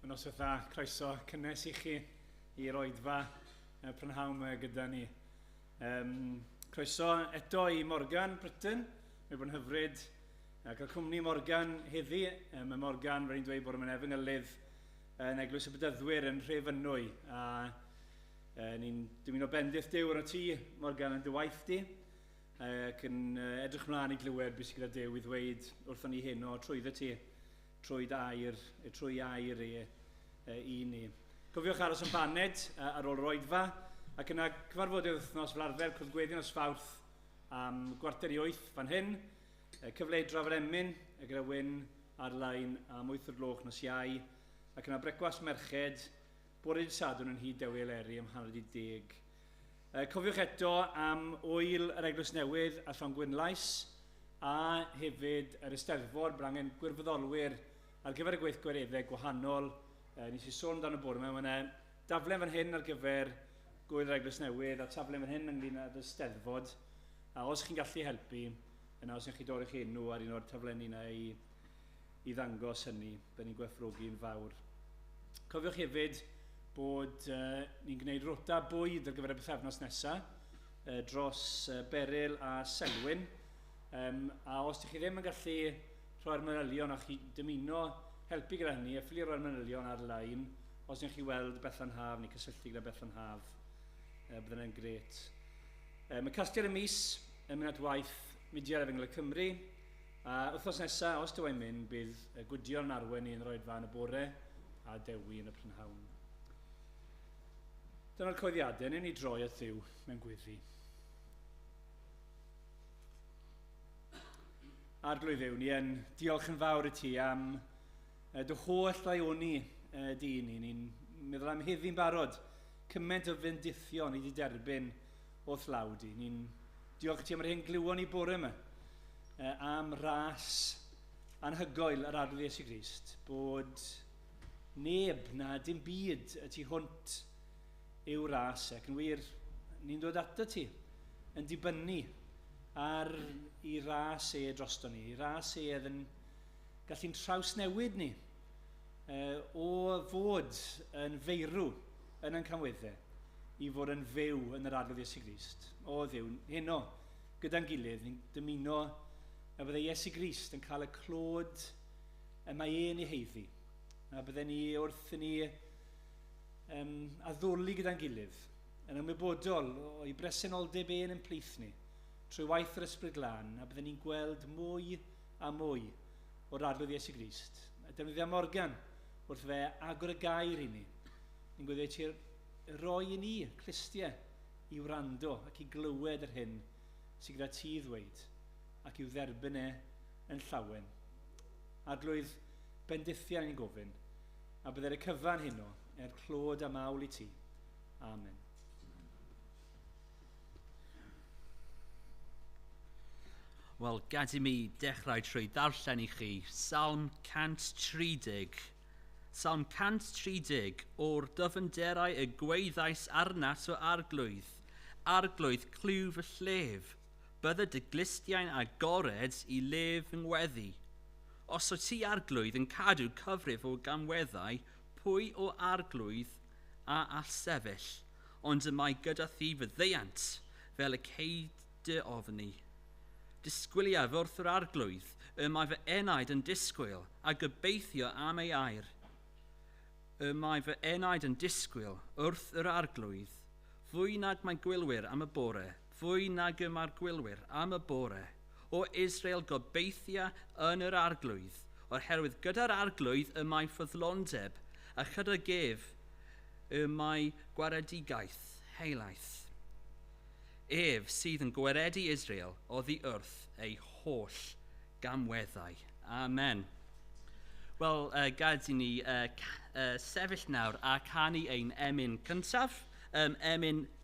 Mae'n os dda, croeso cynnes i chi i'r oedfa y prynhawn mae gyda ni. Um, croeso eto i Morgan Britain, mae bod yn hyfryd a cael cwmni Morgan heddi. Um, mae Morgan wedi dweud bod yn efengylydd yn Eglwys y Bydyddwyr yn Rhefynwy. A uh, ni'n dymuno bendith Dyw yn y tŷ, Morgan, yn dy waith di. ac yn edrych mlaen i glywed beth sydd gyda Dew i ddweud wrthon ni heno trwyddo ti, trwy air, trwy air e, e, i ni. Cofiwch aros yn baned ar ôl yr oedfa, ac yna cyfarfodydd wythnos fel arfer cwrdd gweddion os fawrth am gwarter i oeth fan hyn, cyfle i drafod emyn gyda Wyn ar-lein am wyth o'r gloch nos Iau, ac yna brecwast merched Bore dydd Sadwrn yn nhŷ Dewi Eleri am hanner 'di deg. Uh, cofiwch eto am wyl yr Eglwys Newydd a Llon Gwynlais a hefyd yr Eisteddfor. Bydd angen gwirfoddolwyr ar gyfer y gweithgwareddau gwahanol. Uh, nes i sôn dan y bore yma, mae yna daflen fan hyn ar gyfer gwyl yr Eglwys Newydd a taflen fan hyn ynglyn â'r Eisteddfod. A os chi'n gallu helpu, yna os ydych chi dorri'ch enw ar un o'r taflenni yna i i ddangos hynny, byddwn ni'n gwerthfawrogi'n fawr. Cofiwch hefyd bod uh, ni'n gwneud rota bwyd ar gyfer y bythefnos nesaf uh, dros uh, Beryl a Selwyn. Um, a os ydych chi ddim yn gallu rhoi'r manylion a chi dymuno helpu gyda hynny, efallai rhoi'r manylion ar-lein os ydych chi weld Bethan Haf neu cysylltu gyda Bethan Haf. Uh, byddwn yn gret. Um, y casgliad y mis yn mynd at waith Mudiad Efengyl y Cymru, A wythnos nesa, os dywai'n mynd, bydd y Gwydion yn arwen i Unroedfa yn y bore a Dewi yn y prynhawn. Dyna'r coeddiadau, newn ni droi at Dduw mewn gweddi. Arglwydd Dduw, ni yn diolch yn fawr i ti am dy holl ddaioni di ni. Ni'n meddwl am heddi'n barod cymaint o fendithion i di derbyn O dlawd i. Ni'n diolch i ti am yr hyn glywon ni bore yma uh, am ras anhygoel yr adrodd Iesu Grist, bod neb na dim byd y tu hwnt yw ras ac yn wir, ni'n dod ato ti yn dibynnu ar i ras e drosto ni, i ras e yn gallu'n trawsnewid ni. uh, o fod yn feirw yn ein camweddau i fod yn fyw yn yr arglwydd Iesu Grist. O ddiwn, heno, gyda'n gilydd, ni'n dymuno na byddai Iesu Grist yn cael y clod y mae e'n ei heiddi. Na byddai ni wrth i ni um, addoli gyda'n gilydd, yn ymwybodol o'i bresenoldeb e'n yn plith ni, trwy waith yr Ysbryd Glân, a byddai ni'n gweld mwy a mwy o'r Arglwydd Iesu Grist. Defnyddia Morgan wrth fe agor y gair i ni. Yn gweddio ti roi i ni clistiau i wrando ac i glywed yr hyn sy'n gyda ti ddweud ac i'w dderbyn e yn llawen. Arglwydd, bendithiau yn gofyn, a byddai'r y cyfan heno er clod a mawl i ti. Amen. Wel, gad i mi dechrau trwy ddarllen i chi Salm 130. Salm 130, o'r dyfynderau y gweithais arnat o arglwydd, arglwydd clyw y llef, bydde dy glustiau'n agored i le fy ngweddi. Os o ti arglwydd yn cadw cyfrif o gamweddau, pwy o arglwydd a all sefyll? Ond y mae gyda thi faddeuant, fel y cei dy ofni. Disgwyliaf wrth yr arglwydd y mae fy enaid yn disgwyl, a gobeithio am ei air. Y mae fy enaid yn disgwyl wrth yr arglwydd, fwy nag mae gwylwyr am y bore. Fwy nag y mae'r gwylwyr am y bore o Israel gobeithia yn yr Arglwydd, o'r herwydd gyda'r Arglwydd y mae ffyddlondeb, a chydag ef y mae gwaredigaeth helaeth. Ef sydd yn gwaredu Israel oddi wrth ei holl gamweddau. Amen. Wel, uh, gad i ni uh, uh, sefyll nawr a canu ein emyn cyntaf, um, emyn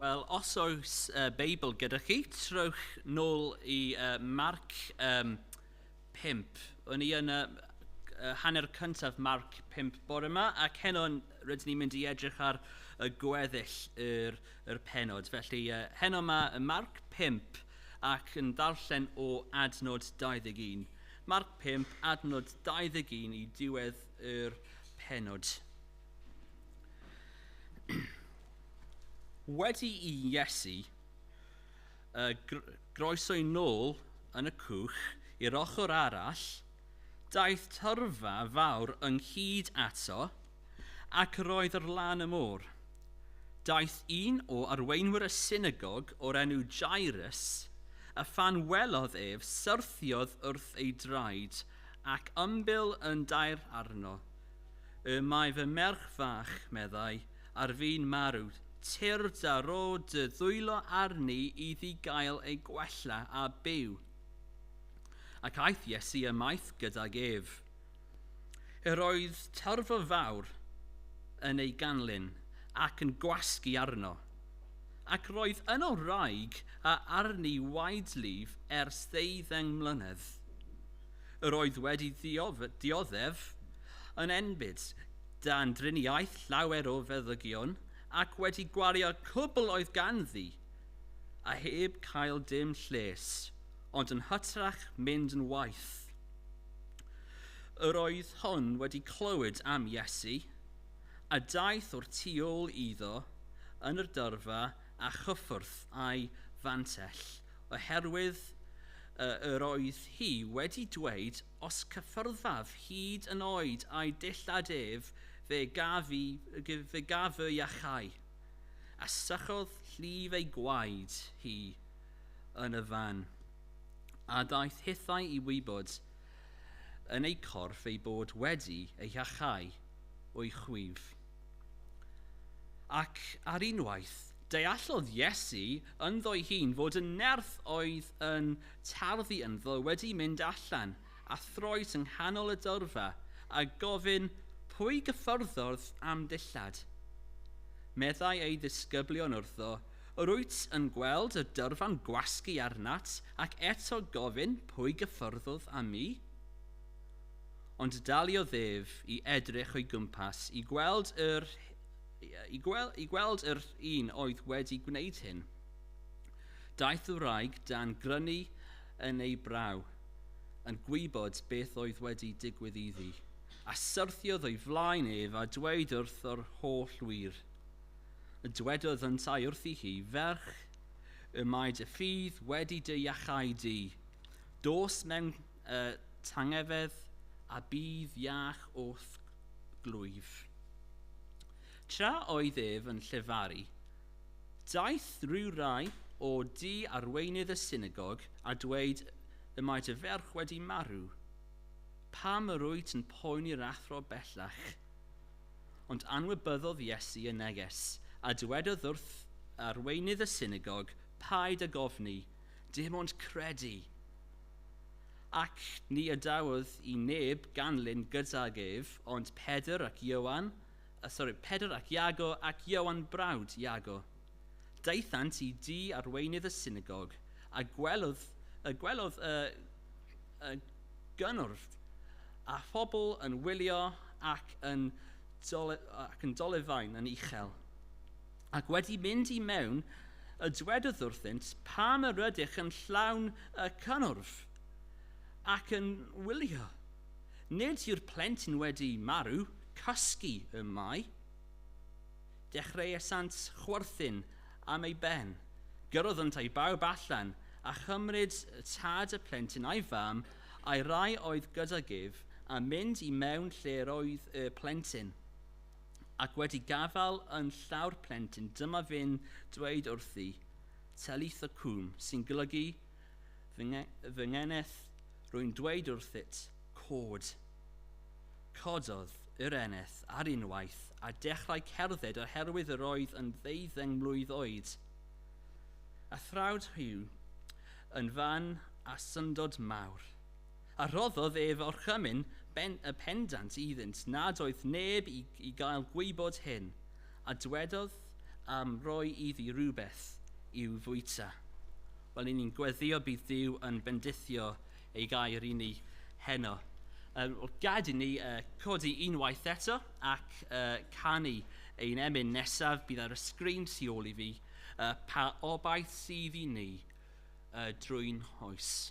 Wel, os oes uh, Beibl gyda chi, trowch nôl i uh, Marc um, 5. O'n i yn y uh, hanner cyntaf Marc 5 bore yma, ac heno rydyn ni'n mynd i edrych ar y gweddill yr, yr penod. Felly, uh, heno mae y Marc 5 ac yn ddarllen o adnod 21. Marc 5, adnod 21 i diwedd yr pennod. Wedi i Iesu uh, groeso'i nôl yn y cwch i'r ochr arall, daeth tyrfa fawr ynghyd ato, ac roedd yr lan y môr. Daeth un o arweinwyr y synagog o'r enw Jairus, a phan welodd ef, syrthiodd wrth ei draed Ac ymbil yn daer arno. Y mae fy merch fach, meddai, ar fin marw, tir da ro dy ddwylo arni iddi gael ei gwella a byw. Ac aeth Iesu ymaith gydag ef. Yr oedd tyrfa fawr yn ei ganlyn, ac yn gwasgu arno. ac roedd yno wraig a arni waed Liv ers ddeuddeng mlynedd. Yr oedd wedi dioddef yn enbyd dan driniaeth llawer o feddygion ac wedi gwario'r cwbl oedd ganddi, a heb cael dim lles, ond yn hytrach mynd yn waeth. Yr oedd hon wedi clywed am Iesu, a daeth o'r tu ôl iddo yn yr dyrfa a chyffwrdd â'i fantell, oherwydd y yr oedd hi wedi dweud, Os cyffyrddaf hyd yn oed â'i dillad ef, fe gaf i, fe gaf fy iachau. A sychodd llif ei gwaed hi yn y fan, a daeth hithau i wybod yn ei chorff ei bod wedi ei iachau. o'i chwif. Ac ar unwaith, deallodd Iesu ynddo'i hun fod y nerth oedd yn tarddu ynddo wedi mynd allan a throes yng nghanol y dyrfa a gofyn, Pwy gyffyrddodd a'm dillad? Meddai ei ddisgyblion wrtho, Yr wyt yn gweld y dyrfa'n gwasgu arnat ac eto gofyn, Pwy gyffyrddodd â mi? ond daliodd ef i edrych o'i gwmpas i gweld yr i gweld, i gweld yr un oedd wedi gwneud hyn. Daeth y wraig dan grynu yn ei braw, yn gwybod beth oedd wedi digwydd iddi, a syrthiodd o'i flaen ef a dweud wrth yr holl wir. Y dwedodd yntau wrthi hi, Ferch, y mae dy ffydd wedi dy iachau di. Dos mewn Y tangnefedd a bydd iach o'th glwyf. Tra oedd ef yn llefaru, daeth rhyw rai o du arweinydd y synagog a dweud y mae dy ferch wedi marw. Pam yr wyt yn poeni'r athro bellach? Ond anwybyddodd Iesu y neges, a dwedodd wrth arweinydd y synagog, Paid ag ofni, dim ond credu. Ac ni adawodd i neb ganlyn gydag ef, ond Pedr ac Ioan, yy sori, Pedr ac Iago ac Ioan brawd Iago. Daethant i dŷ arweinydd y synagog, a gwelodd, yy gwelodd y, y gynnwrf, a phobl yn wylio ac yn, dole, ac yn dolefain yn uchel. Ac wedi mynd i mewn, y dwedodd wrthynt, Pam yr ydych yn llawn y cynnwrf, ac yn wylio? Nid yw'r plentyn wedi marw, cysgu y mae. Dechreuasant chwerthin am ei ben. Gyrroddant â'i bawb allan, a chymryd tad y plentyn a'i fam, a'i rai oedd gydag ef, a mynd i mewn lle yr oedd y plentyn. ac wedi gafael yn llaw'r plentyn dyma fe'n dweud wrthi, Talitha Cwm, sy'n golygu, fy, nge, fy ngeneth, rwy'n dweud wrthyt, cod. Cododd yr eneth ar unwaith a dechrau cerdded oherwydd yr oedd yn ddeuddeng mlwydd oed. A thrawd Hugh yn fan a syndod mawr. A rhoddodd ef orchymyn pendant iddynt nad oedd neb i gael gwybod hyn, a dwedodd, Am roi iddi rywbeth i'w fwyta. Wel, 'y ni'n gweddïo bydd Duw yn bendithio ei gair i ni heno. Wel, gad i ni codi unwaith eto ac canu ein emyn nesaf, bydd ar y sgrin tu ôl i fi, Pa Obaith Sydd i Ni drwy'n Nghoes.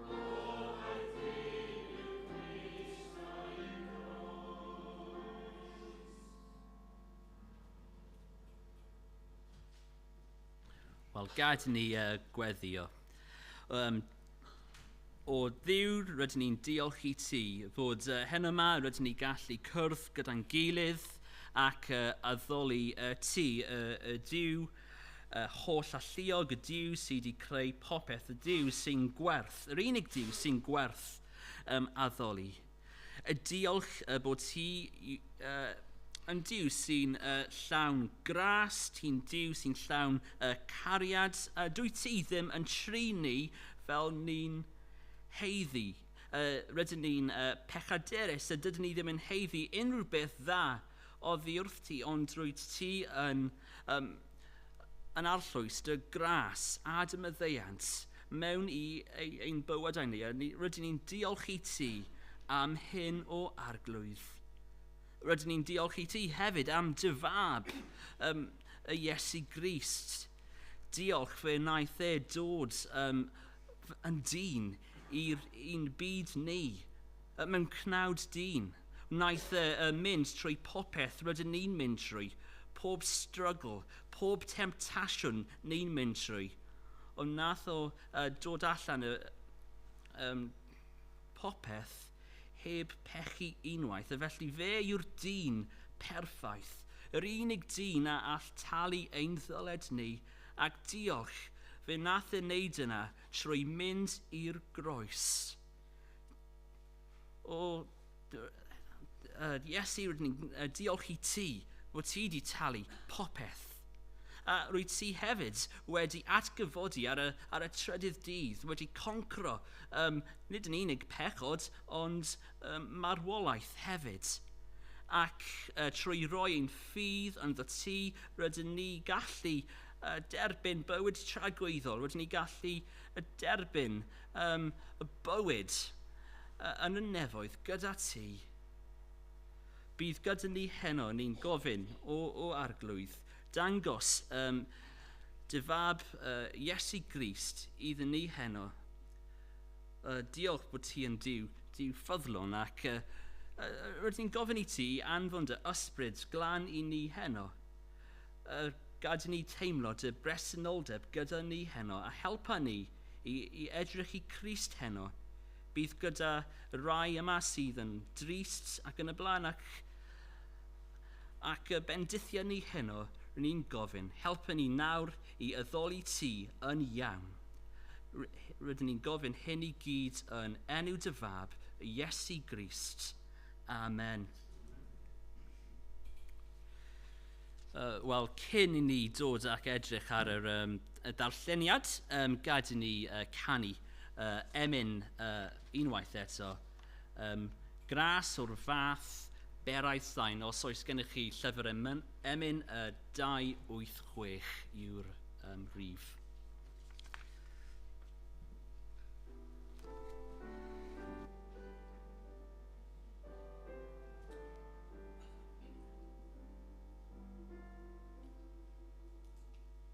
Wel, gad ni uh, gweddio. Um, o ddiw, rydyn ni'n diolch i ti fod uh, hen yma, rydyn ni gallu cwrdd gyda'n gilydd ac uh, addoli uh, ti, uh, y diw Y holl alluog, y Duw sydd wedi creu popeth, y Duw sy'n gwerth, yr unig Duw sy'n gwerth um, addoli. Y diolch uh, bod hi uh, yn Duw sy'n uh, llawn gras, ti'n Duw sy'n llawn uh, cariad, a uh, dwy ti ddim yn tri ni fel ni'n heiddi. Uh, rydyn ni'n uh, pechaderus a dydyn ni ddim yn heiddi unrhyw beth dda Oddi wrth ti, ond rwyt ti yn, yym, yn arllwys dy gras a dy maddeuant mewn i ei, ein bywydau ni, a ni, rydyn ni'n diolch i ti am hyn o arglwydd. Rydyn ni'n diolch i ti hefyd am dy fab, um, y Iesu Grist. Diolch fe wnaeth e dod um, yn dyn i'r un byd ni, Mewn cnawd dyn, wnaeth e fynd trwy popeth rydyn ni'n mynd trwy, pob strygl, pob temtasiwn ni'n mynd trwy. Ond wnaeth o dod allan o popeth heb pechu unwaith, a felly fe yw'r dyn perffaith, yr unig dyn a all talu ein ddyled ni, ac diolch, fe wnaeth e wneud yna trwy mynd i'r groes. O, uh, Iesu, rydyn ni'n uh, diolch i ti fod ti wedi talu popeth. A rwyt ti hefyd wedi atgyfodi ar y, ar y trydydd dydd, wedi concro um, nid yn unig pechod, ond um, marwolaeth hefyd. Ac uh, trwy roi ein ffydd ynddo ti, rydyn ni gallu uh, derbyn bywyd tragwyddol, rydyn ni gallu uh, derbyn Ym bywyd yn y nefoedd gyda ti. Bydd gyda ni heno, ni'n gofyn, o, o Arglwydd, dangos ym dy fab Iesu Grist iddyn ni heno. O, diolch bod ti yn Duw, Duw ffyddlon ac yy rydyn ni'n gofyn i ti i anfon dy ysbryd glân i ni heno. Yy gad i ni teimlo dy bresenoldeb gyda ni heno a helpa ni i, i edrych i Crist heno. Bydd gyda rai yma sydd yn drist ac yn y blaen ac, ac y bendithiad ni heno, rydyn ni'n gofyn, helpu ni nawr i addoli Ti yn iawn. Rydyn ni'n gofyn hyn i gyd yn enw Dy Fab, Iesu Grist. Amen. Uh, Wel, cyn i ni dod ac edrych ar yr um, y darlleniad, um, gad i ni uh, canu uh, emyn uh, unwaith eto. Um, gras o'r fath, berau sain, os oes gennych chi llyfr emyn, emyn uh, 286 yw'r um, rif.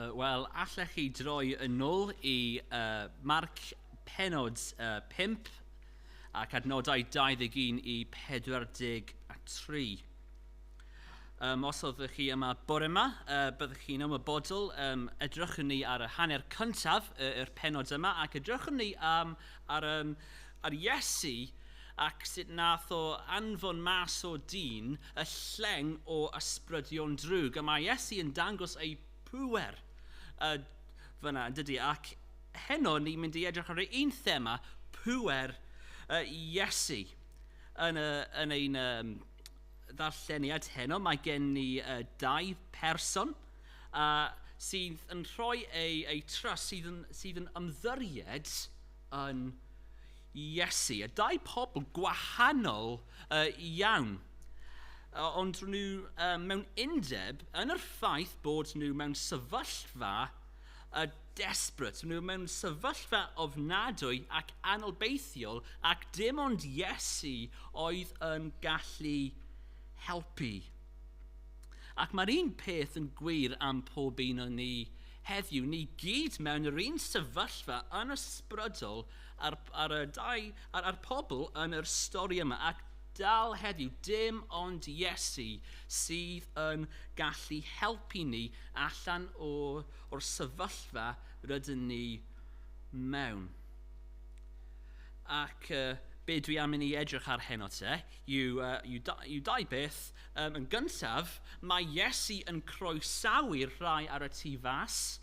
Yy wel allech chi droi yn ôl i yy Marc pennod yy pump ac adnodau dau ddeg un i pedwar deg a tri. Yym os oeddech chi yma bore 'ma yy byddech chi'n ymwybodol yym edrychwn ni ar y hanner cyntaf yy yr pennod yma ac edrychwn ni yym ar yym ar Iesu ac sut nath o anfon mas o dyn y lleng o ysbrydion drwg a mae Iesu yn dangos ei pŵer yy fyna yndydi ac heno ni'n mynd i edrych ar yr un thema pŵer yy Iesu yn y yn ein yym ddarlleniad heno mae gen ni yy dau person a sydd yn rhoi eu eu trust sydd yn sydd yn ymddyried yn Iesu. A dau pobl gwahanol uh, iawn. Uh, ond nhw uh, mewn undeb yn yr ffaith bod nhw mewn sefyllfa uh, desbryd. Nhw mewn sefyllfa ofnadwy ac anobeithiol ac dim ond Iesu oedd yn gallu helpu. Ac mae'r un peth yn gwir am pob un o'n ni Heddiw, ni gyd mewn yr un sefyllfa yn ysbrydol ar, ar, y dau, ar, ar pobl yn yr stori yma, ac dal heddiw, dim ond Iesu sydd yn gallu helpu ni allan o, o'r sefyllfa rydyn ni mewn. Ac uh, be dwi am i ni edrych ar heno te, yw, uh, yw, da, yw dau beth Yn gyntaf, mae Iesu yn croesawu'r rhai ar y tu fas,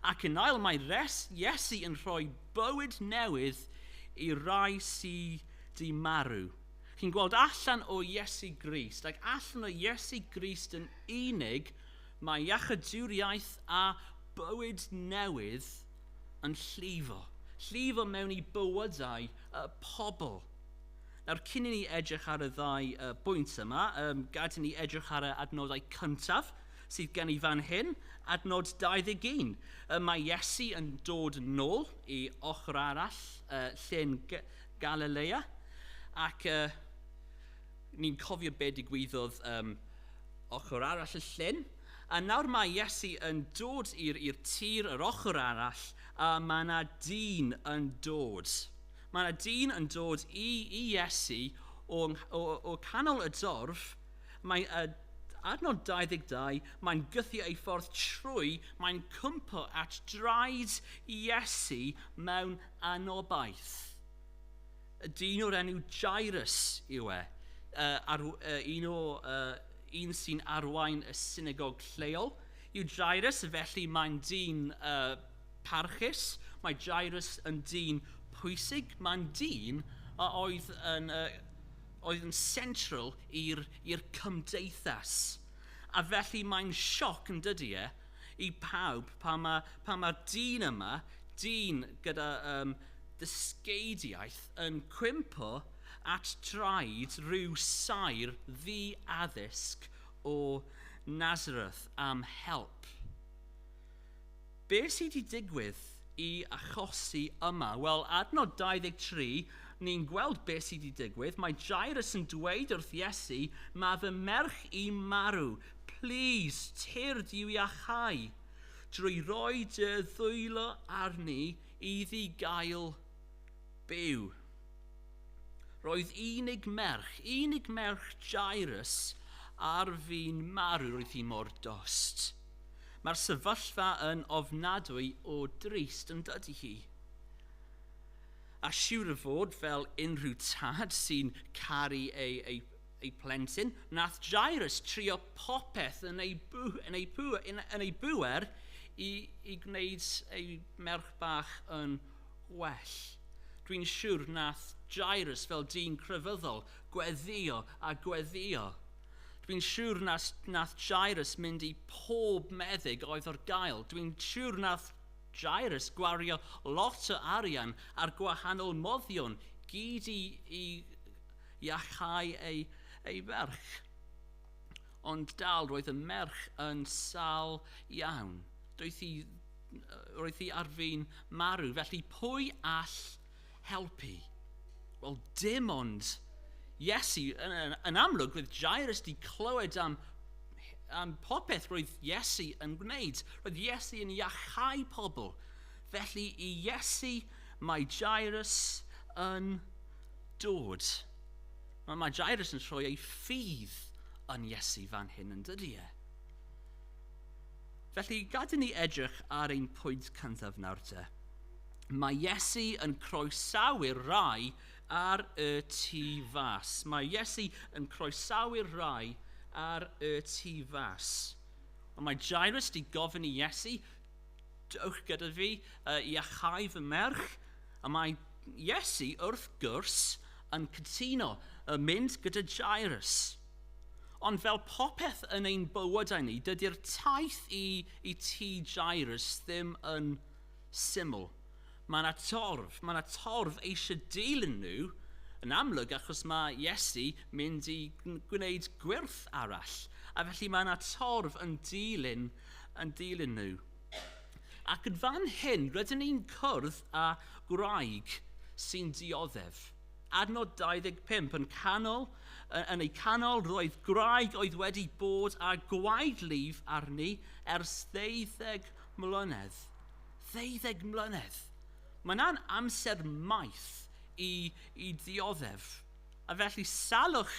ac yn ail mae Iesu yn rhoi bywyd newydd i rai sy di marw. Chi'n gweld allan o Iesu Grist, ac allan o Iesu Grist yn unig, mae iachydwriaeth a bywyd newydd yn llifo, llifo mewn i bywydau y pobl. Nawr, cyn i ni edrych ar y ddau uh, bwynt yma, um, gad i ni edrych ar y adnodau cyntaf sydd gen i fan hyn, adnod 21. Uh, mae Iesu yn dod nôl i ochr arall uh, llyn Galilea, ac uh, ni'n cofio be digwyddodd um, ochr arall y llyn. A nawr mae Iesu yn dod i'r tir yr ochr arall, a mae yna dyn yn dod. Mae yna dyn yn dod i, i Iesu o, o, o canol y dorf. Mae uh, adnod 22, mae'n gythio ei ffordd trwy, mae'n cwmpo at draed Iesu mewn anobaith. Y dyn o'r enw Jairus yw e, uh, ar, uh, un o uh, un sy'n arwain y synagog lleol yw Jairus, felly mae'n dyn uh, Parchus, mae Jairws yn dyn pwysig, mae'n dyn a oedd yn, uh, oedd yn central i'r cymdeithas. A felly mae'n sioc yn dydy e i pawb pan mae'r pa ma dyn yma, dyn gyda um, dysgeidiaeth yn cwympo at draed rhyw saer ddi addysg o Nazareth am help. Be sy wedi digwydd i achosi yma? Wel, adnod 23, ni'n gweld be sy wedi digwydd. Mae Jairus yn dweud wrth Iesu, mae fy merch i marw, plis, tir di i'w iachau, drwy roi dy ddwylo arni iddi gael byw. Roedd unig merch, unig merch Jairus ar fin marw, roedd hi mor dost. Mae'r sefyllfa yn ofnadwy o drist yn dydy hi. A siwr o fod fel unrhyw tad sy'n caru ei, ei, ei plentyn, nath Jairus trio popeth yn ei, bw, yn ei, bw, yn, yn ei bŵer i, i gwneud ei merch bach yn well. Dwi'n siwr nath Jairus fel dyn crefyddol gweddio a gweddio Dwi'n siwr nas nath Jairus mynd i pob meddyg oedd ar gael. Dwi'n siwr nath Jairus gwario lot o arian ar gwahanol moddion gyd i i iachau ei ei ferch. Ond dal roedd y merch yn sal iawn. Doedd hi roedd hi ar fin marw felly pwy all helpu? Wel, dim ond Iesu. Yn, yn, yn amlwg, roedd Jairus di clywed am, am popeth roedd Iesu yn gwneud. Roedd Iesu yn iachau pobl. Felly i Iesu mae Jairus yn dod. Mae, mae Jairus yn troi ei ffydd yn Iesu fan hyn yn dydy e. Felly, gadw ni edrych ar ein pwynt cyntaf nawr te. Mae Iesu yn croesawu'r rai ar y tu fas. Mae Iesu yn croesawu'r rai ar y tu fas. Ond mae Jairus di gofyn i Iesu, dewch gyda fi uh, i achau fy merch, a mae Iesu wrth gwrs yn cytuno uh, mynd gyda Jairus. Ond fel popeth yn ein bywydau ni, dydy'r taith i, i ti Jairus ddim yn syml. Mae 'na torf, mae 'na torf eisiau dilyn nhw, yn amlwg, achos mae Iesu mynd i gwneud gwyrth arall, a felly mae 'na torf yn dilyn, yn dilyn nhw. Ac yn fan hyn, rydyn ni'n cwrdd â gwraig sy'n dioddef. Adnod 25, yn, canol, yn ei canol roedd gwraig oedd wedi bod â gwaed lif arni ers ddeuddeg mlynedd, ddeuddeg mlynedd, mae yna'n amser maith i, i ddioddef. A felly salwch,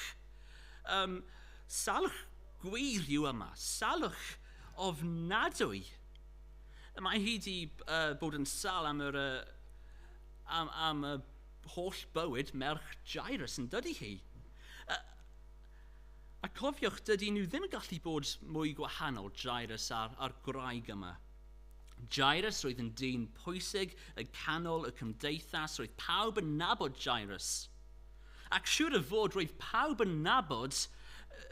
um, salwch gwir yw yma, salwch ofnadwy. Mae hi wedi uh, bod yn sal am yr, uh, am, am y holl bywyd merch Jairus yn dydy hi. Uh, A cofiwch, dydy nhw ddim yn gallu bod mwy gwahanol, Jairus a'r, a'r gwraig yma. Jairus roedd yn dyn pwysig yn canol y cymdeithas, roedd pawb yn nabod Jairus. Ac siŵr o fod roedd pawb yn nabod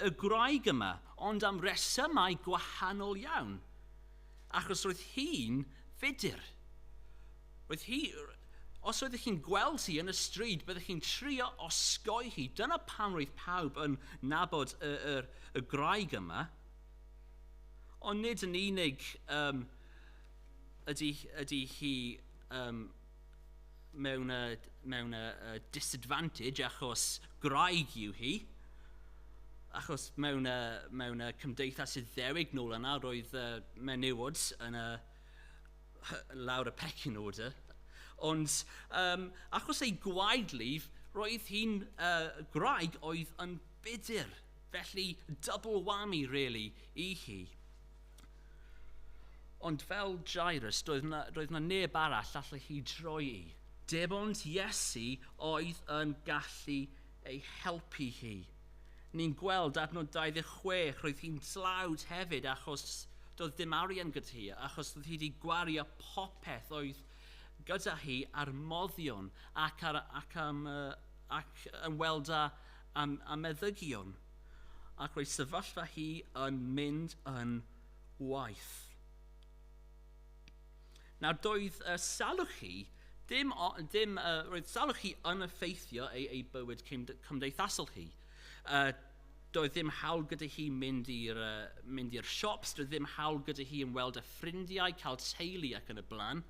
y gwraig yma, ond am resymau gwahanol iawn. Achos roedd hi'n fudr. Roedd hi... Os oeddech chi'n gweld hi yn y stryd, byddech chi'n trio osgoi hi. Dyna pam roedd pawb yn nabod y, y, y graig yma. Ond nid yn unig um, ydy, ydy hi um, mewn, uh, mewn uh, uh, disadvantage achos graig yw hi. Achos mewn, uh, mewn uh, cymdeithas iddewig nôl yna, roedd uh, menywod yn y, uh, lawr y pecyn order. Ond um, achos ei gwaed lif, roedd hi'n uh, graig oedd yn budur. Felly, double whammy, really, i hi. Ond fel Jairus, doedd yna, doedd yna neb arall allai hi droi i. Dim ond Iesu oedd yn gallu ei helpu hi. Ni'n gweld adnod 26, roedd hi'n dlawd hefyd achos doedd dim arian gyda hi, achos doedd hi wedi gwario popeth oedd gyda hi ar moddion ac, ar, ac, am, ac ymweld â, â, â meddygion. ac roedd sefyllfa hi yn mynd yn waeth. Nawr, doedd y salwch hi, dim, dim, uh, roedd salwch hi yn effeithio ei, ei bywyd cymdeithasol hi. Uh, doedd ddim hawl gyda hi mynd i'r uh, mynd i'r siops, doedd ddim hawl gyda hi yn weld y ffrindiau, cael teulu ac yn y blaen.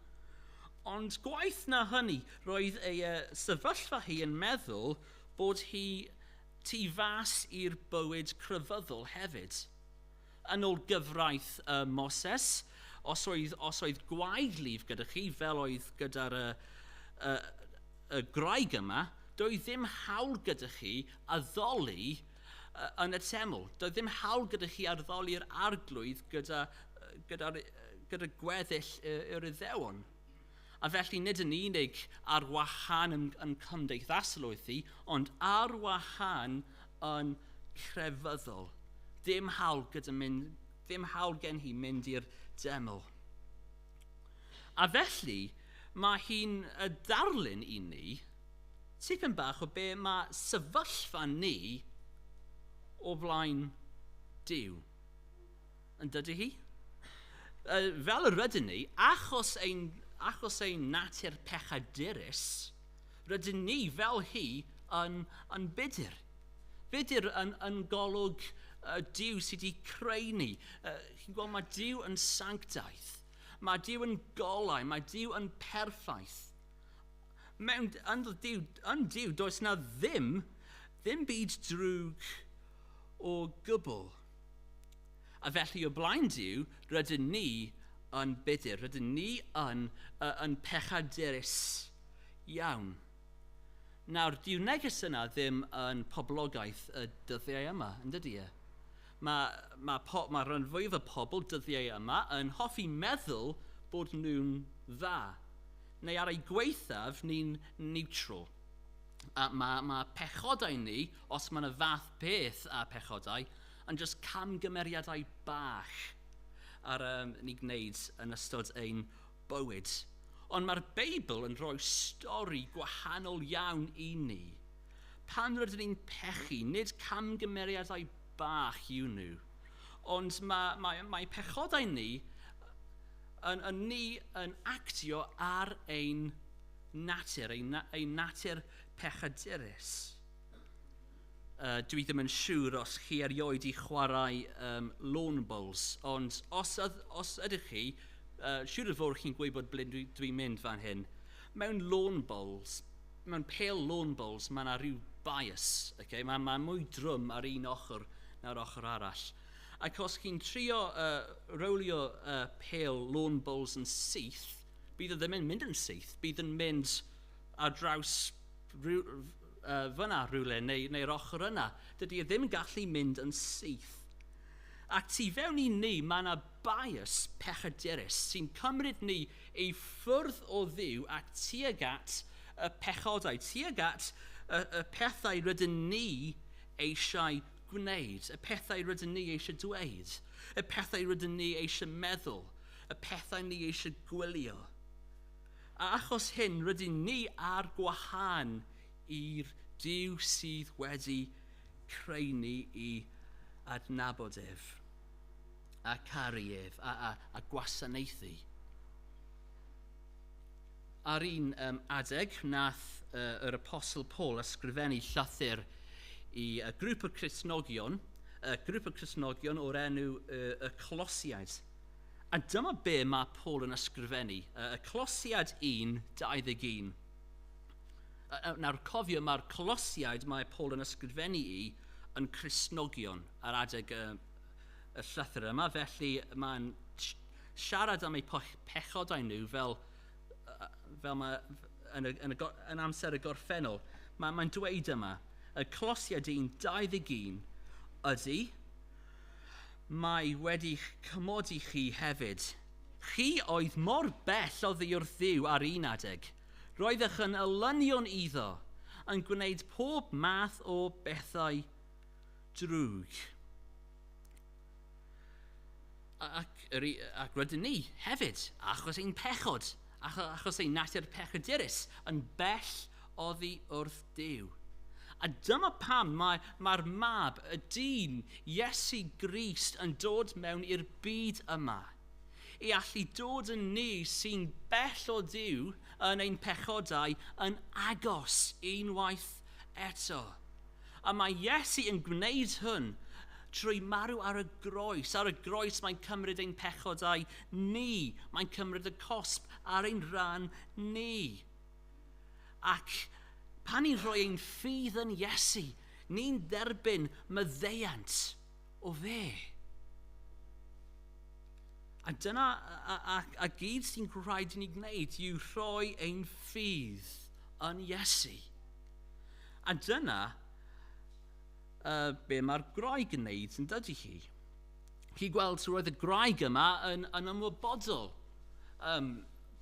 Ond gwaith na hynny, roedd ei uh, sefyllfa hi yn meddwl bod hi Tu fas i'r bywyd crefyddol hefyd. Yn ol gyfraith y Moses, os oedd, os oedd gwaed lif gyda chi, fel oedd gyda'r y, y, y graig yma, doedd ddim hawl gyda chi addoli yn y teml. Doedd ddim hawl gyda chi addoli'r arglwydd gyda, gyda, gyda gweddill yr Iddewon. A felly nid yn unig ar wahân yn, yn cymdeithasol oedd hi, ond ar wahân yn crefyddol. Dim hawl gyda mynd, ddim hawl gen hi mynd i'r deml. A felly, mae hi'n darlun i ni tipyn bach o be mae sefyllfa ni o flaen Dyw. Yn dydy hi? Uh, fel yr ydyn ni, achos ein, achos ein natur pechadurus, rydyn ni fel hi yn, yn budur. Budur yn, yn golwg uh, Dyw sydd wedi creu ni. Uh, chi'n gweld, mae Dyw yn sanctaidd. Mae Dyw yn golau, mae Dyw yn perffaith. Mewn yn Dyw, yn Dyw does na ddim, ddim byd drwg o gwbl. A felly, o blaen Duw, rydyn ni yn budur, rydyn ni yn, uh, yn pechaderus iawn. Nawr, dyw neges yna ddim yn poblogaeth y dyddiau yma, yn dydy e? Mae, mae, po, mae rhan fwyaf y pobl dyddiau yma yn hoffi meddwl bod nhw'n dda, neu ar ei gweithaf ni'n neutral. A mae, mae pechodau ni Os mae 'na fath beth â pechodau yn jyst camgymeriadau bach ar yym ni gwneud yn ystod ein bywyd. Ond mae'r Beibl yn rhoi stori gwahanol iawn i ni. Pan rydyn ni'n pechu, nid camgymeriadau bach yw nhw, ond mae, mae, mae pechodau ni yn, yn ni yn actio ar ein natur, ein, ein natur pechadurus. Yy, dwi ddim yn siŵr os chi erioed 'di chwarae yym lawn bowls, ond os yd- os ydych chi, yy siŵr o fod chi'n gwybod ble dwi dwi'n mynd fan hyn. Mewn lawn bowls, mewn pêl lawn bowls, ma' 'na ryw bias, ocê, ma' ma' mwy drwm ar un ochr na'r ochr arall. Ac os chi'n trio yy rowlio yy pêl lawn bowls yn syth, bydd o ddim yn mynd yn syth, bydd yn mynd... ar draws rhyw, uh, fyna rhywle neu, neu'r ochr yna. Dydy e ddim yn gallu mynd yn syth. A tu fewn i ni, mae yna bias pechaderus sy'n cymryd ni ei ffwrdd o ddiw a tuag at y pechodau, tuag at y, y pethau rydyn ni eisiau gwneud, y pethau rydyn ni eisiau dweud, y pethau rydyn ni eisiau meddwl, y pethau ni eisiau gwylio. A achos hyn rydyn ni ar gwahân i'r Duw sydd wedi creu ni i adnabod ef, a caru ef, a, a, a gwasanaethu. Ar un um, adeg, nath uh, yr Apostol Paul ysgrifennu llythyr i uh, grŵp o Crisnogion, uh, grŵp o Crisnogion o'r enw uh, y Colosiaid. A dyma be mae Paul yn ysgrifennu, y Colosiad 1, 21. Nawr, cofio, mae'r Colosiaid mae Paul yn ysgrifennu i yn Cresnogion ar adeg y, y llythyr yma, felly mae'n siarad am eu pechodau nhw fel, fel mae yn, y, yn, y, yn amser y gorffennol. Mae'n mae dweud yma, y Colosiad 1, 21, ydy, Mae wedi'ch cymod i chi hefyd. Chi oedd mor bell oddi wrth Dduw ar un adeg. Roeddech yn elynion iddo, yn gwneud pob math o bethau drwg. Ac, yr, ac rydyn ni hefyd, achos ein pechod, achos ein natur pechadurus, yn bell oddi wrth Duw. A dyma pam mae mae'r Mab, y Dyn, Iesu Grist, yn dod mewn i'r byd yma, i allu dod yn ni sy'n bell o Dduw yn ein pechodau yn agos unwaith eto. A mae Iesu yn gwneud hwn trwy marw ar y groes. Ar y groes mae'n cymryd ein pechodau ni, mae'n cymryd y cosb ar ein rhan ni. Ac pan ni'n rhoi ein ffydd yn Iesu, ni'n derbyn maddeuant o fe. A dyna a, a, a gyd sy'n rhaid i ni gwneud yw rhoi ein ffydd yn Iesu. A dyna uh, be mae'r groeg yn neud yn dydy hi. chi gweld, roedd y graig yma yn, yn ymwybodol um,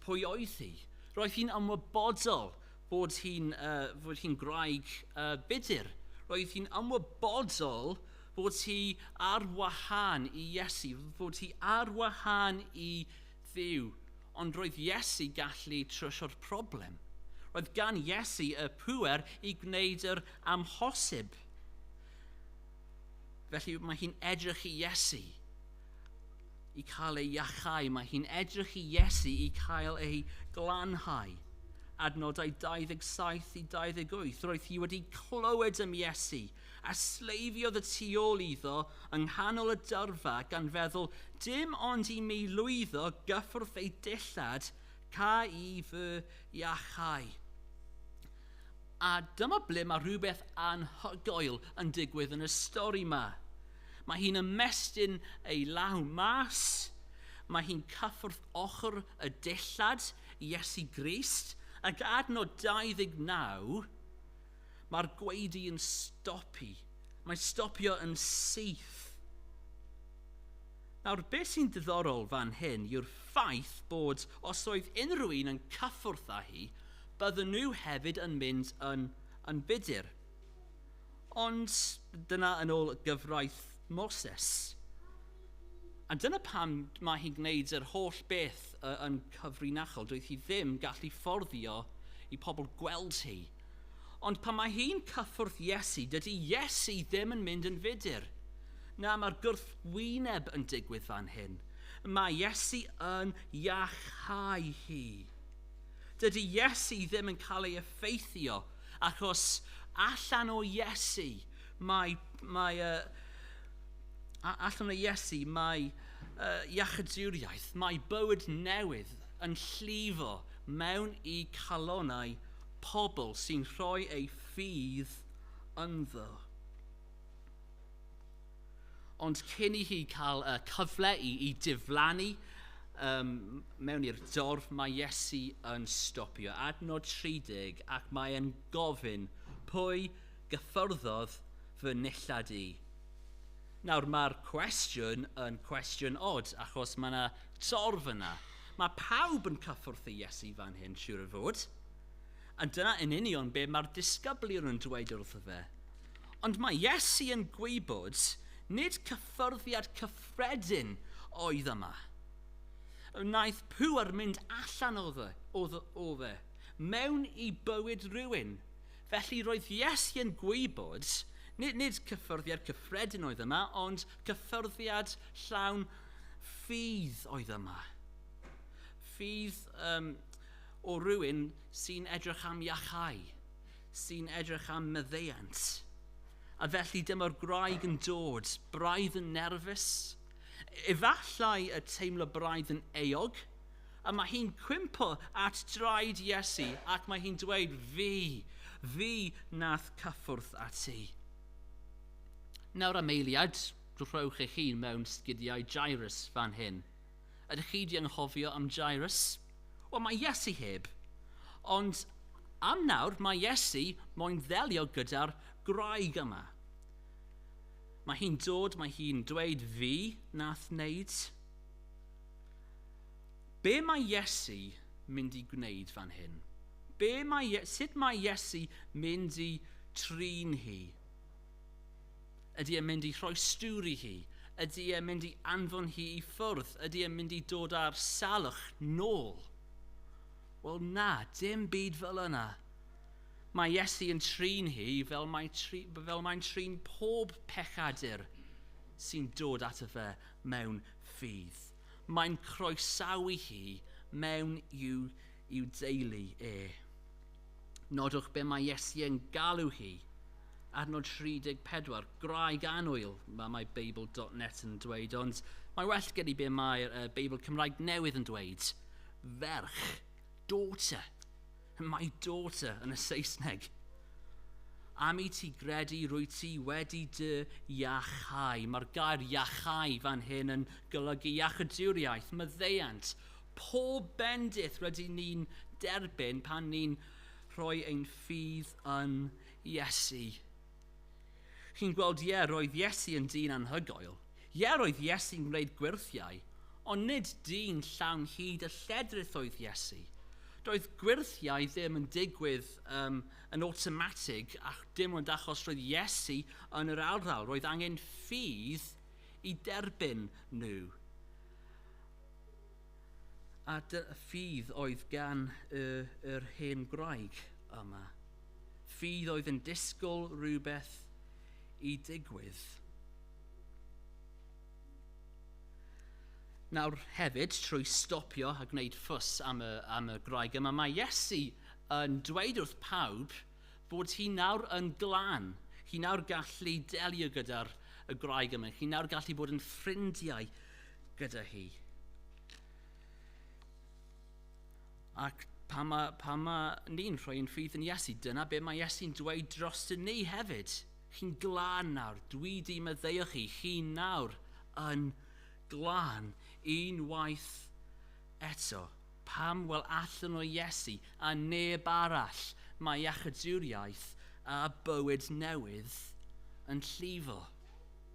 pwy oedd hi. Roedd hi'n ymwybodol bod hi'n uh, bod hi'n graig uh, budur. Roedd hi'n ymwybodol bod hi ar wahân i Iesu, bod hi ar wahân i ddiw. Ond roedd Iesu gallu trysio'r problem. Roedd gan Iesu y pŵer i gwneud yr amhosib. Felly mae hi'n edrych i Iesu i cael ei iachau. Mae hi'n edrych i Iesu i cael ei glanhau. Adnodau 27 i 28. Roedd hi wedi clywed am Iesu a sleifiodd y tu ôl iddo yng nghanol y dyrfa gan feddwl dim ond i mi lwyddo gyffwrdd ei dillad ca i fy iachau. A dyma ble mae rhywbeth anhygoel yn digwydd yn y stori yma. Mae hi'n ymestyn ei law mas, mae hi'n cyffwrdd ochr y dillad, Iesu Grist, ac adnod 29, mae'r gwaedu yn stopi, mae'n stopio yn syth. Nawr, be sy'n ddiddorol fan hyn yw'r ffaith bod os oedd unrhyw un yn cyffwrdd â hi, bydden nhw hefyd yn mynd yn, yn budur. Ond dyna yn ôl gyfraith Moses. A dyna pam mae hi'n gwneud yr holl beth yn cyfrinachol. Doedd hi ddim gallu fforddio i pobl gweld hi. Ond pan mae hi'n cyffwrdd Iesu, dydy Iesu ddim yn mynd yn fudur. Na, mae'r gwrthwyneb yn digwydd fan hyn. Mae Iesu yn iachau hi. Dydy Iesu ddim yn cael ei effeithio, achos allan o Iesu mae, mae uh, allan o Iesu mae uh, iachyduriaeth, mae bywyd newydd yn llifo mewn i calonau pobl sy'n rhoi eu ffydd ynddo. Ond cyn i hi cael y cyfle i, i diflannu um, mewn i'r dorf, mae Iesu yn stopio. Adnod 30, ac mae'n gofyn, pwy gyffyrddodd fy nillad i? Nawr, mae'r cwestiwn yn cwestiwn od, achos mae yna torf yna. Mae pawb yn cyffwrdd i Iesu fan hyn, siwr o fod. A dyna yn union be mae'r disgyblion yn dweud wrtho fe. Ond mae Iesu yn gwybod nid cyffyrddiad cyffredin oedd yma. Wnaeth pŵer mynd allan o fe, o, o fe, mewn i bywyd rhywun. Felly roedd Iesu yn gwybod nid, nid cyffyrddiad cyffredin oedd yma, ond cyffyrddiad llawn ffydd oedd yma. Ffydd um, O rywun sy'n edrych am iachau, sy'n edrych am maddeuant. A felly dyma'r gwraig yn dod, braidd yn nerfus. Efallai y teimlo braidd yn euog, a mae hi'n cwympo at draed Iesu ac mae hi'n dweud, Fi, fi nath cyffwrdd â ti. Nawr am eiliad, rhowch eich hun mewn sgidiau Jairus fan hyn. Ydych chi 'di anghofio am Jairus? Wel, mae Iesu heb. Ond am nawr, mae Iesu moyn ddelio gyda'r gwraig yma. Mae hi'n dod, mae hi'n dweud fi nath wneud. Be mae Iesu mynd i gwneud fan hyn? Be mae, sut mae Iesu mynd i trin hi? Ydy e'n mynd i rhoi stŵr i hi? Ydy e'n mynd i anfon hi i ffwrdd? Ydy e'n mynd i dod â'r salwch nôl? Wel na, dim byd fel yna. Mae Iesu yn trin hi fel mae'n tri, fel mae trin pob pechadur sy'n dod ato fe mewn ffydd. Mae'n croesawu hi mewn i'w, i'w deulu e. Nodwch be mae Iesu yn galw hi. Adnod 34, graig anwyl, mae, mae Beibl.net yn dweud, ond mae well gen i be mae'r uh, Beibl Cymraeg newydd yn dweud. Ferch, daughter, my daughter yn y Saesneg. Am i ti gredu rwy ti wedi dy iachau. Mae'r gair iachau fan hyn yn golygu iachyduriaeth, maddeuant, pob bendith rydyn ni'n derbyn pan ni'n rhoi ein ffydd yn Iesu. Chi'n gweld, ie, roedd Iesu yn dyn anhygoel. Ie, roedd Iesu'n gwneud gwyrthiau, ond nid dyn llawn hyd a lledrith oedd Iesu. Doedd gwyrthiau ddim yn digwydd um, yn awtomatig, ac dim ond achos roedd Iesu yn yr arddal. Roedd angen ffydd i derbyn nhw. A dy ffydd oedd gan y yr hen gwraig yma. Ffydd oedd yn disgwyl rhywbeth i digwydd. Nawr hefyd, trwy stopio a gwneud ffws am y, am y gwraig yma, mae Iesu yn dweud wrth pawb bod hi nawr yn glan. Hi nawr gallu delio gyda'r y gwraig yma. Hi nawr gallu bod yn ffrindiau gyda hi. Ac pan mae, pan mae ni'n rhoi yn ffydd yn Iesu, dyna be mae Iesu'n dweud dros yn ni hefyd. Chi'n glân nawr, dwi di meddeio chi, chi nawr yn glân unwaith eto. Pam? Wel, allan o Iesu a neb arall mae iachyduriaeth a bywyd newydd yn llifo.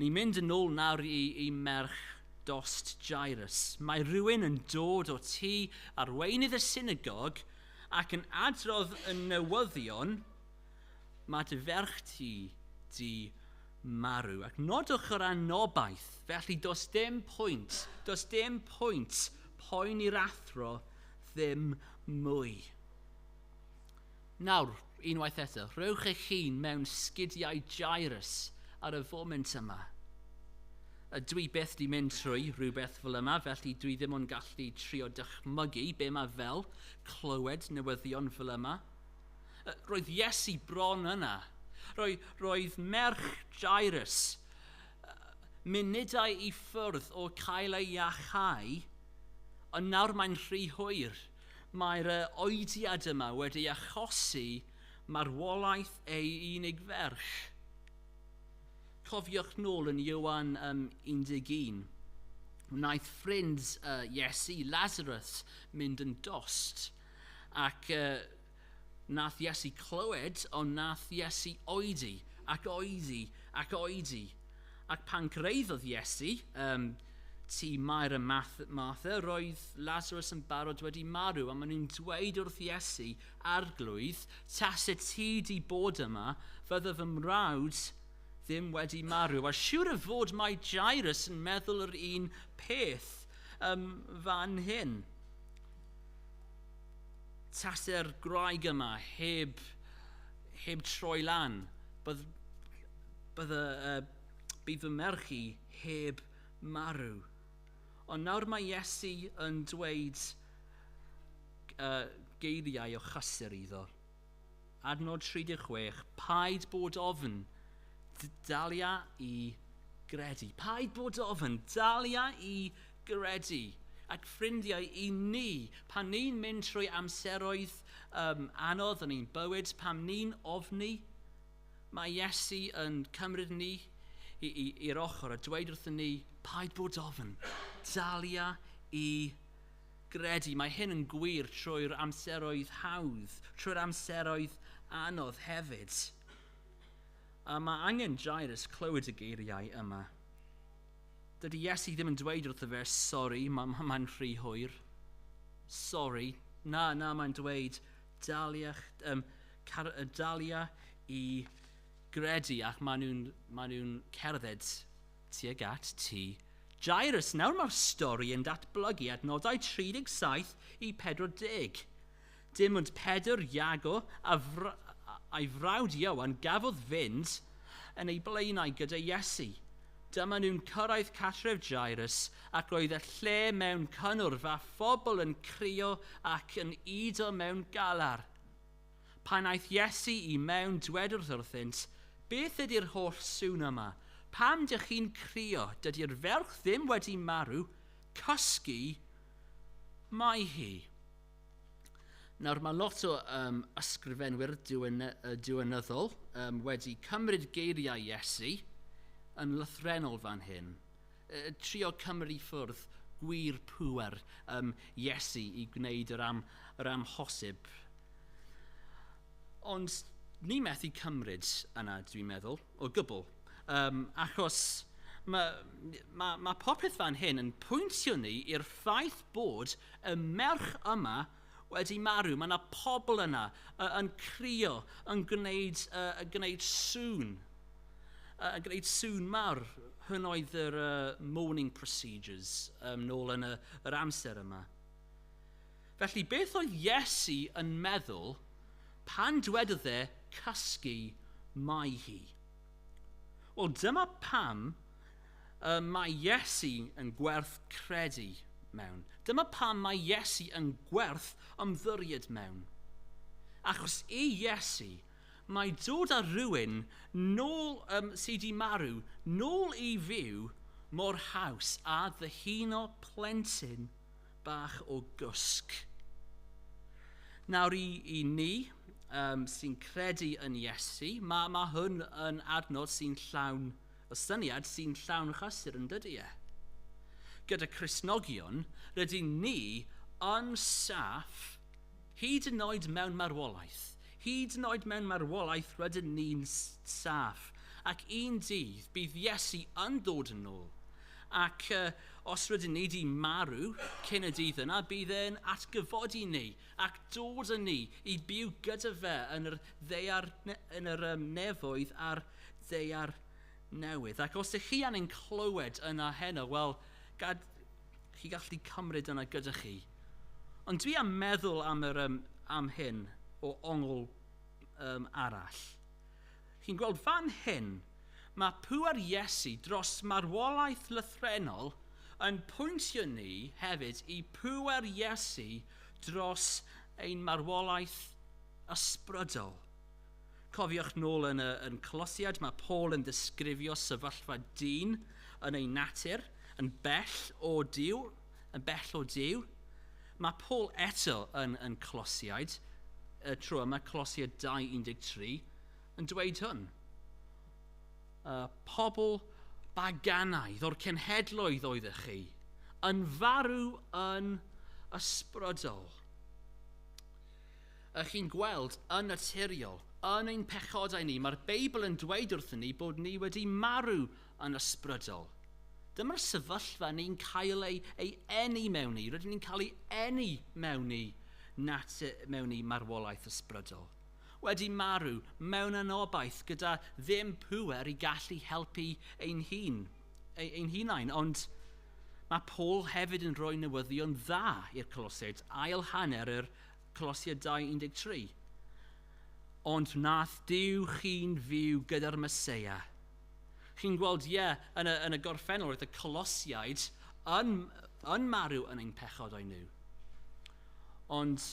Ni'n mynd yn ôl nawr i i merch dost, Jairus. Mae rhywun yn dod o ti arweinydd y synagog ac yn adrodd y newyddion, Mae dy ferch ti di marw. Ac nodwch yr anobaith, felly does dim pwynt, does dim pwynt poen i'r athro ddim mwy. Nawr, unwaith eto, rhowch eich hun mewn sgidiau Jairus ar y foment yma. A dwi byth di mynd trwy rhywbeth fel yma, felly dwi ddim yn gallu trio dychmygu be mae fel clywed newyddion fel yma. Roedd Iesu bron yna. Roedd, roedd merch Jairus munudau i ffwrdd o cael ei iachau, ond nawr mae'n rhy hwyr. Mae'r oediad yma wedi achosi marwolaeth ei unig ferch. Cofiwch nôl yn Ioan 11, wnaeth ffrind Iesu, Lazarus, mynd yn dost ac Nath Iesu clywed, ond nath Iesu oedi, ac oedi, ac oedi. Ac pan greiddodd Iesu, ym, tŷ Mair a Math, Martha, roedd Lazarus yn barod wedi marw, a maen nhw'n dweud wrth Iesu, Arglwydd, tase ti di bod yma, fydde fy mrawd ddim wedi marw. A siwr o fod mae Jairus yn meddwl yr un peth ym fan hyn. tase'r gwraig yma heb, heb troi lan, bydd, bydd, uh, bydd fy merch i heb marw. Ond nawr mae Iesu yn dweud uh, geiriau o chysur iddo. Adnod 36, paid bod ofn, dalia i gredu. Paid bod ofn, dalia i gredu. Ac ffrindiau i ni, pan ni'n mynd trwy amseroedd um, anodd yn ein bywyd, pam ni'n ofni, mae Iesu yn cymryd ni i'r ochr a dweud wrthyn ni, paid bod ofn, dalia i gredu. gredu, mae hyn yn gwir trwy'r amseroedd hawdd, trwy'r amseroedd anodd hefyd. A mae angen Jairus clywed y geiriau yma. Dydy Iesu ddim yn dweud wrtho fe, sori, mae'n ma, ma rhy hwyr. Sori. Na, na, mae'n dweud, dalia, um, car, dalia i gredu ac maen nhw'n ma nhw cerdded Tuag at Ty Jairus. Nawr mae'r stori yn datblygu adnodau 37 i 40. Dim ond Pedr, Iago a a'i frawd Ioan gafodd fynd yn eu blaenau gyda Iesu. Dyma nhw'n cyrraedd cartref Jairus ac roedd y lle mewn cynnwrf â phobl yn crio ac yn udo mewn galar. Pan aeth Iesu i mewn, dwedwrth wrthynt, Beth ydy'r holl sŵn yma? Pam dych chi'n crio? Dydy'r ferch ddim wedi marw, cysgu mae hi. Nawr, mae lot o um, ysgrifenwyr diwyn, uh, diwynyddol um, wedi cymryd geiriau Iesu yn lythrenol fan hyn. trio cymryd ffwrdd gwir pŵer um, Iesu i gwneud yr, am, yr amhosib. Ond ni methu cymryd yna, dwi'n meddwl, o gwbl. Um, achos mae ma, ma popeth fan hyn yn pwyntio ni i'r ffaith bod y merch yma wedi marw, mae yna pobl yna uh, yn crio, yn gwneud, uh, yn gwneud sŵn, uh, yn gwneud sŵn mawr. Hyn oedd yr uh, mourning procedures um, nôl yn y, yr amser yma. Felly, beth oedd Iesu yn meddwl pan dwedodd e cysgu mai hi? Wel, dyma pam Y mae Iesu yn gwerth credu mewn. Dyma pam mae Iesu yn gwerth ymddiried mewn. Achos i Iesu, mae dod â rhywun nôl um, sydd wedi marw nôl i fyw mor haws a ddyhuno plentyn bach o gwsg. Nawr i, i ni um, sy'n credu yn Iesu, mae, mae hwn yn adnod sy'n llawn Y syniad sy'n llawn chysur yn dydy e? Gyda Christnogion, rydyn ni yn saff, hyd yn oed mewn marwolaeth. Hyd yn oed mewn marwolaeth rydyn ni'n saff, ac un dydd bydd Iesu yn dod yn ôl, ac os rydyn ni 'di marw cyn y dydd yna, bydd e'n atgyfodi ni ac dod â ni i byw gyda fe yn yr ddaear, yn yr nefoedd a'r ddaear newydd. Ac os ych chi angen clywed yna heno, wel, gad, chi gallu cymryd yna gyda chi. Ond dwi am meddwl am, yr, um, am hyn o ongl um, arall. Chi'n gweld fan hyn, mae pŵer Iesu dros marwolaeth lythrenol yn pwyntio ni hefyd i pŵer Iesu dros ein marwolaeth ysbrydol. Cofiwch nôl yn y yn Colosiad mae Paul yn disgrifio sefyllfa dyn yn ei natur yn bell o Duw, yn bell o Duw. Mae Paul eto yn yn Colosiaid, y tro yma Colosiad 2.13, yn dweud hwn. Y pobl baganaidd o'r cenhedloedd oeddech chi, yn farw yn ysbrydol. Ych chi'n gweld, yn naturiol, yn ein pechodau ni, mae'r Beibl yn dweud wrthyn ni bod ni wedi marw yn ysbrydol. Dyma'r sefyllfa ni'n cael ei, ei eni mewn ni. Rydyn ni'n cael ei eni mewn ni, nat, mewn ni marwolaeth ysbrydol. Wedi marw mewn anobaith gyda ddim pŵer i gallu helpu ein hun, ein hunain, ond Mae Paul hefyd yn rhoi newyddion dda i'r Coloseid, ail hanner yr Colossia 2, 13 Ond wnaeth Duw chi'n fyw gyda'r Meseia. Chi'n gweld, ie, yn y, yn y gorffennol, roedd y Colosiaid yn, yn marw yn ein pechodau nhw. Ond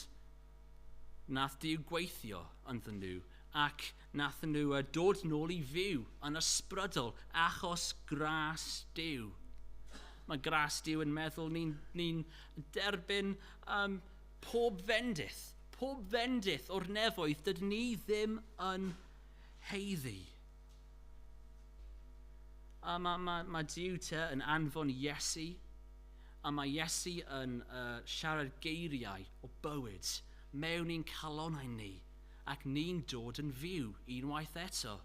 nath Duw gweithio ynddyn nhw ac nath nhw dod nôl i fyw yn ysbrydol achos gras Duw. Mae gras Duw yn meddwl ni'n ni derbyn um, Pob fendith, pob fendith o'r nefoedd dydyn ni ddim yn haeddu. A mae, mae, mae Duw te yn anfon Iesu, a mae Iesu yn uh, siarad geiriau o bywyd mewn i'n calonau ni, ac ni'n dod yn fyw unwaith eto.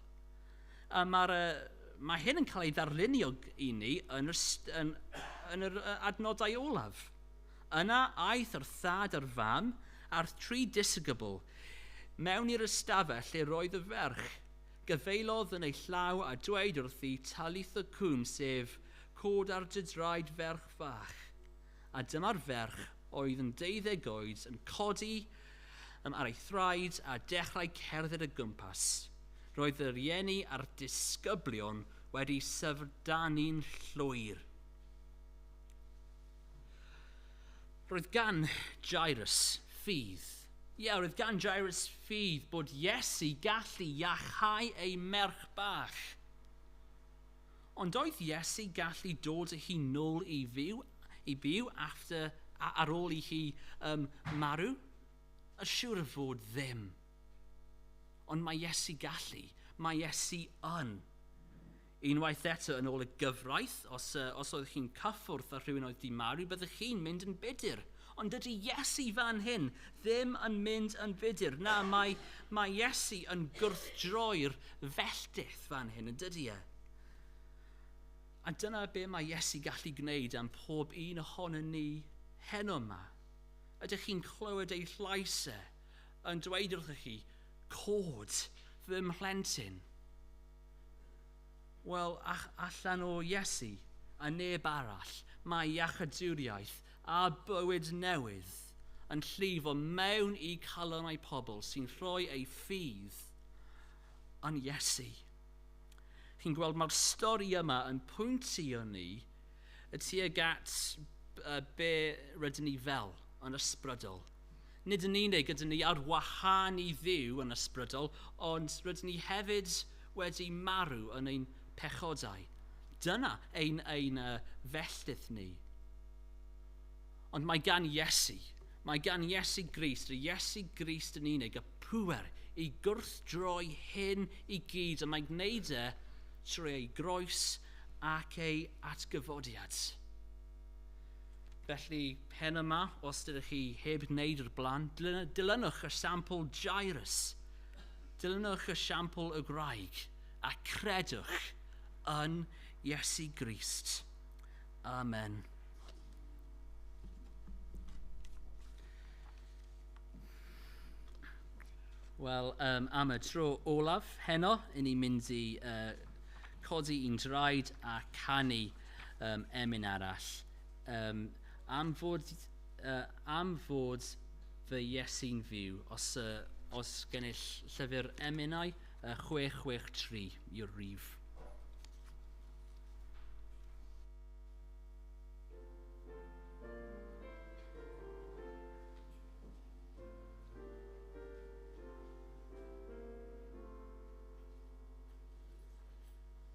A mae'r uh, mae hyn yn cael ei ddarlunio i ni yn yr, yn, yn yr adnodau olaf. Yna aeth yr thad a'r fam a'r tri disygybl mewn i'r ystafell lle roedd y ferch. Gafaelodd yn ei llaw a dweud wrthi, Talitha Kum sef, Cod ar dy draed ferch fach. A dyma'r ferch oedd yn deuddeg oed yn codi yym ar ei thraed a dechrau cerdded o gwmpas. Roedd y rieni a'r disgyblion wedi syfrdanu'n llwyr. Roedd gan Jairus ffydd. Ie, yeah, roedd gan Jairus ffydd bod Iesu gallu iachau ei merch bach. Ond oedd Iesu gallu dod â hi nôl i fyw, i byw after, ar ôl i hi um, marw? Y siwr y fod ddim. Ond mae Iesu gallu, mae Iesu yn. Unwaith eto, yn ôl y gyfraith, os, os oedd chi'n cyffwrdd â rhywun oedd 'di marw, byddech chi'n mynd yn budur. Ond dydy Iesu fan hyn ddim yn mynd yn budur. Na, mae, mae Iesu yn gwrthdroi'r felltith fan hyn, yn dydy e? A dyna be mae Iesu gallu gwneud am pob un ohono ni heno yma. Ydych chi'n clywed ei llais e yn dweud wrthych chi, cod fy mhlentyn. Wel, allan o Iesu a neb arall, mae iachawdwriaeth a bywyd newydd yn llifo mewn i calonnau pobl sy'n rhoi eu ffydd yn Iesu. Chi'n gweld, mae'r stori yma yn pwyntio ni y tuag at be rydyn ni fel yn ysbrydol. Nid yn unig ydyn ni ar wahân i Dduw yn ysbrydol, ond rydyn ni hefyd wedi marw yn ein pechodau. Dyna ein ein uh, felltith ni. Ond mae gan Iesu, mae gan Iesu Grist, y Iesu Grist yn unig, y pŵer i gwrthdroi hyn i gyd, a mae gwneud e trwy ei groes ac ei atgyfodiad. Felly, pen yma, os dydych chi heb wneud yr blaen, dilynwch y sampl Jairus. Dilynwch y sampl y graig a credwch yn Iesu Grist. Amen. Wel, um, am y tro olaf heno, i ni mynd i uh, codi i'n draed a canu. um, emyn arall, um, am fod, uh, am fod fy Iesu'n fyw, os, uh, os gennych llyfr emynau, uh, 663 yw'r rif.